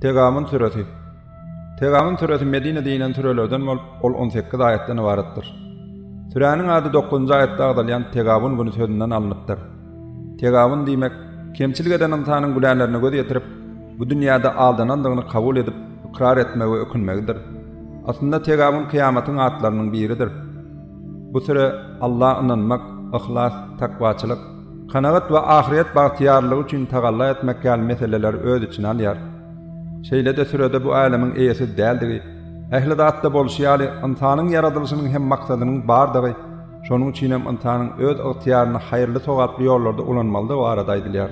Tegamyn süresi Tegamyn süresi Medinede inen sürelerden bolup, ol on sekiz aýatdan ybaratdyr. Süräniň ady dokuzynjy aýatda agzalýan Tegabun güni sözünden alnypdyr. Tegabun diýmek, kemçilik eden ynsanyň günälerine göz ýetirip, bu dünýäde aldanandygyny kabul edip, ykrar etmegi we ökünmegidir. Aslynda Tegabun kyýamatyň atlarynyň biridir. Bu süre Alla ynanmak, yhlas, takwaçylyk, Kanagat we ahyret bagtyýarlygy üçin tagalla etmek ýaly meseleleri öz içine alýar. Şeýle-de sürede bu älemiň eýesiz däldigi, ähli zatda bolşy ýaly, ynsanyň ýaradylyşynyň hem maksadynyň bardygy, şonuň üçin hem ynsanyň öz ygtyýaryny haýyrly-sogaply ýollarda ulanmalydygy barada aýdylýar.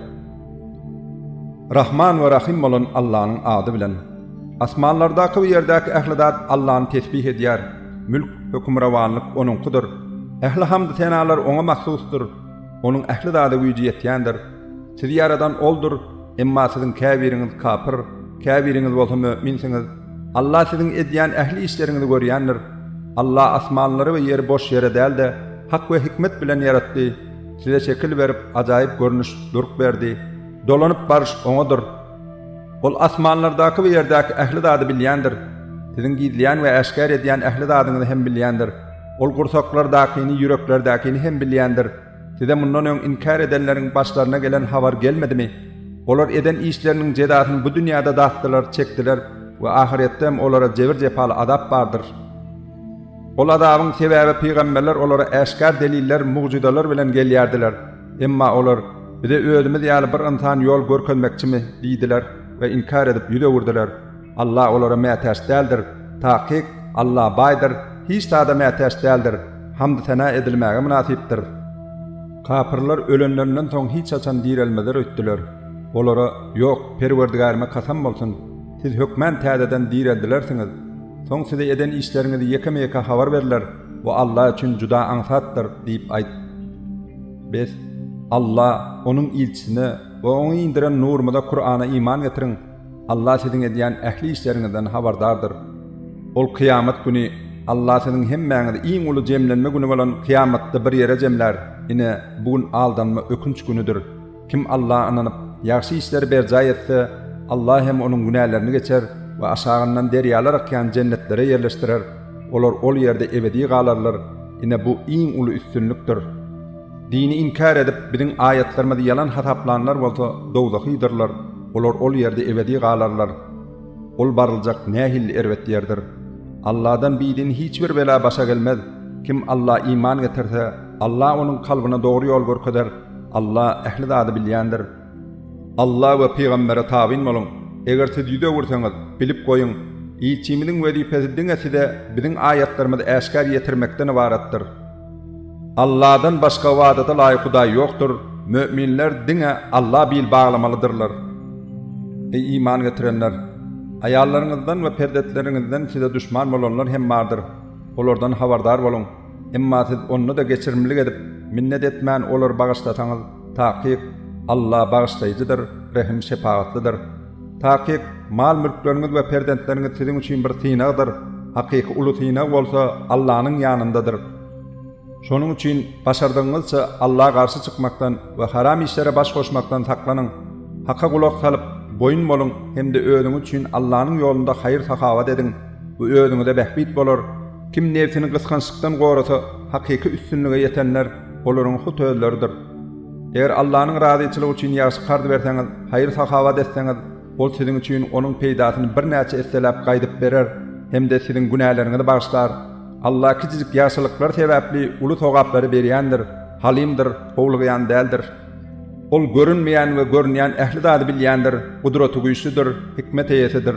Rahman we Rahym bolan Allanyň ady bilen. Asmanlardaky we ýerdäki ähli zat Allany tesbih edýär. Mülk, hökümrowanlyk Onuňkydyr. Ähli hamd-senalar Oňa mahsusdyr. Onuň ähli zada güýji ýetýändir. Sizi ýaradan Oldur, emma siziň käbiriňiz kapyr, käbiriňiz bolsa möminsiňiz. Alla siziň edýän ähli işleriňizi görýändir. Alla asmanlary we ýeri boş ýere däl-de, hak we hikmet bilen ýaratdy. Size şekil berip, ajaýyp görnüş, durk berdi. Dolanyp baryş Oňadyr. Ol asmanlardaky we ýerdäki ähli zady bilýändir. Siziň gizleýän we äşgär edýän ähli zadyňyzy hem bilýändir. Ol gursaklardakyny, ýüreklerdäkini hem bilýändir. Size mundan öň inkär edenleriň başlaryna gelen habar gelmedimi? Olar eden işleriniň jezasyny bu dünýäde datdylar, çekdiler we ahyretde hem olara jebir-jepaly azap bardyr. Ol azabyň sebäbi pygamberler olara äşgär deliller, mugjyzalar bilen gelýärdiler. Emma olar, Bize özümiz ýaly bir ynsan ýol görkezmekçimi? diýdiler we inkär edip ýüz öwürdiler. Allah olara mätäç däldir. Takyk, Allah baýdyr, hiç zada mätäç däldir, hamd-sena edilmäge mynasypdyr. Kapyrlar ölenlerinden soň hiç haçan direlmezler öýtdüler. Olara, Ýok, Perwerdigärime kasam bolsun! Siz hökmän täzeden direldilersiňiz. Soň size eden işleriňizi ýekeme-ýeke habar berler, bu Allah üçin juda aňsatdyr, diýip aýt. Bes, Allah, Onuň ilçisine we Oňa indiren nurumyza, Kurana, iman getiriň! Allah siziň edýän ähli işleriňizden habardardyr. Ol kyýamat güni Allah siziň hemmäňizi iň uly jemlenme güni bolan kyýamatda bir ýere jemlär. Ine, bu gün aldanma, ökünç günüdir. Kim Allaha ynanyp, ýagşy işleri berjaý etse, Allah hem onuň günälerini geçer we aşagyndan derýalar akýan jennetlere ýerleşdirer. Olar ol ýerde ebedi galarlar. Ine, bu iň uly üstünlikdir. Dini inkär edip, biziň aýatlarymyzy ýalan hasaplanlar bolsa dowzahydyrlar, olar ol ýerde ebedi galarlar. Ol baryljak nähili erbet ýerdir! Alladan bidin hiç bir bela başa gelmez. Kim Alla iman getirse, Alla onuň kalbyna dogry ýol görkezer. Alla ähli zady bilýändir. Alla we pygambere tabyn boluň. Eger siz ýüz öwürseňiz, bilip goýuň, ilçimiziň wezipesi diňe size biziň aýatlarymyzy äşgär ýetirmekden ybaratdyr. Alladan başga ybadata laýyk hudaý ýokdur, möminler diňe Alla bil baglamalydyrlar. Eý, iman getirenler! Aýallaryňyzdan we perzetleriňizden size duşman bolanlar hem bardyr, olardan habardar boluň. Emma siz onda-da geçirimlilik edip, minnet etmän olary bagyşlasaňyz, takyk, Alla Bagyşlaýjydyr, Rehim-şepagatlydyr. Takyk, mal-mülkleriňiz we perzentleriňiz siziň üçin bir synagdyr, hakyky uly synag bolsa Allanyň ýanyndadyr. Şonuň üçin başardygyňyzça Alla garşy çykmakdan we haram işlere baş goşmakdan saklanyň. Haka gulak salyp, boýun boluň hem-de özüňiz üçin Allanyň ýolunda haýyr-sahawat ediň, bu özüňize bähbit bolar. Kim nebsini gysgançlykdan gorasa, hakyky üstünlige ýetenler olaryň hut özleridir. Eger Allanyň razyçylygy üçin ýagşy karz berseňiz, haýyr-sahawat etseňiz, Ol siziň üçin onuň peýdasyny birnäçe esseläp gaýdyp berer hem-de siziň günäleriňizi bagyşlar. Alla kiçijik ýagşylyklar sebäpli uly sogaplary berýändir, Halymdyr, howlugýan däldir. Ol görünmeýän we görünýän ähli zady bilýändir, Gudratygüýçlidir, hikmet eýesidir.